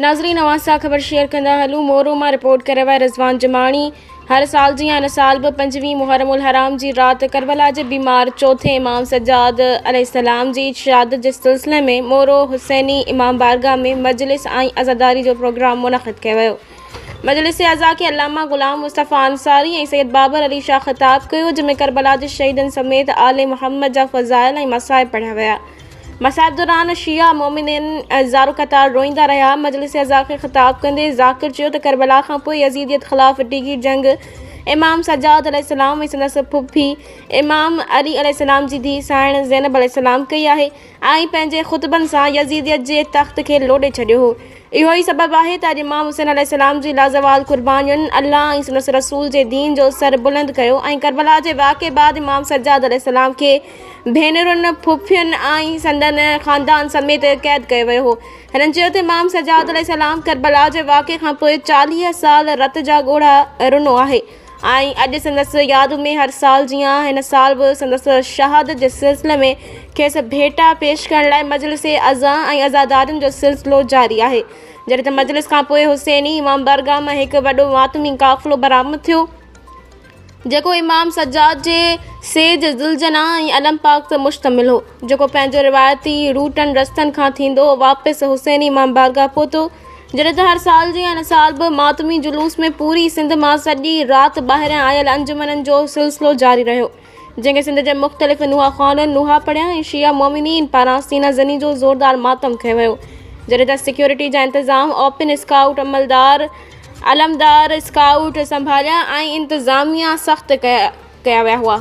ناظرين اوهان سان خبر شيئر ڪندا هلون مورو مان رپورٽ ڪريو آهي رضوان جماڻي هر سال جيان ان سال به پنجويهه محرم الحرام جي رات ڪربلا جي بيمار چوٿين امام سجاد عليه السلام جي شهادت جي سلسلي ۾ مورو حسيني امام بارگاهه ۾ مجلس ۽ عزاداري جو پروگرام منعقد ڪيو ويو مجلس عزا کي علامه غلام مصطفي انصاري ۽ سيد بابر علي شاهه خطاب ڪيو جنهن ۾ ڪربلا جي شهيدن سميت آل محمد جا فضائل ۽ مصائب پڙهيا ويا مصائب دوران شيعا مؤمنين زارو قطار روئيندا رهيا. مجلس اعضاء کي خطاب ڪندي ذاڪر چيو ته ڪربلا کان پوء يزيديت خلاف ڊگهي جنگ امام سجاد عليه السلام ۽ سندس ڦڦي امام علي عليه السلام جي ڌيء سانئڻ زينب عليه السلام ڪئي آهي. آئين پنهنجي خطبن سان يزيديت جي تخت کي لوڏي ڇڏيو هو. اهو ئي سبب آهي ته اڄ امام حسين عليه السلام جي لازوال قربانين الله ۽ سندس رسول جي دين جو سر بلند ڪيو ۽ ڪربلا جي واقعي بعد امام سجاد عليه السلام کي ڀينرن، ڦڦين ۽ سندن خاندان سميت قيد ڪيو ويو هو. هنن چيو ته امام سجاد عليه السلام ڪربلا جي واقعي کانپوء چاليهه سال رت جا ڳوڙها رنو آهي. ۽ اڄ سندس ياد ۾ هر سال جيان هن سال به سندس شهادت جي سلسلي ۾ کيس ڀيٽا پيش ڪرڻ لاء مجلس عزا ۽ عزادارين جو سلسلو جاري آهي. جڏهن ته مجلس کان پوء حسيني امام بارگاهه مان هڪ وڏو ماتمي قافلو برآمد ٿيو جيڪو امام سجاد جي سيج ذوالجناح ۽ علم پاڪ تي مشتمل هو جيڪو پنهنجو روايتي روٽن رستن کان ٿيندو واپس حسيني امام بارگاهه پهتو جڏهن ته هر سال جيان ان سال به ماتمي جلوس ۾ پوري سنڌ مان سڄي رات ٻاهريان آيل انجمنن جو سلسلو جاري رهيو جنهن کي سنڌ جي مختلف نوحا خوانن نوحا پڙهيا ۽ شيعه مومنين پاران سينا زني جو زوردار ماتم ڪيو ويو جڏهن ته سيڪيورٽي جا انتظام اوپن اسڪائوٽ عملدار علمدار اسڪائوٽ سنڀاليا ۽ انتظاميا سخت ڪيا ويا هئا.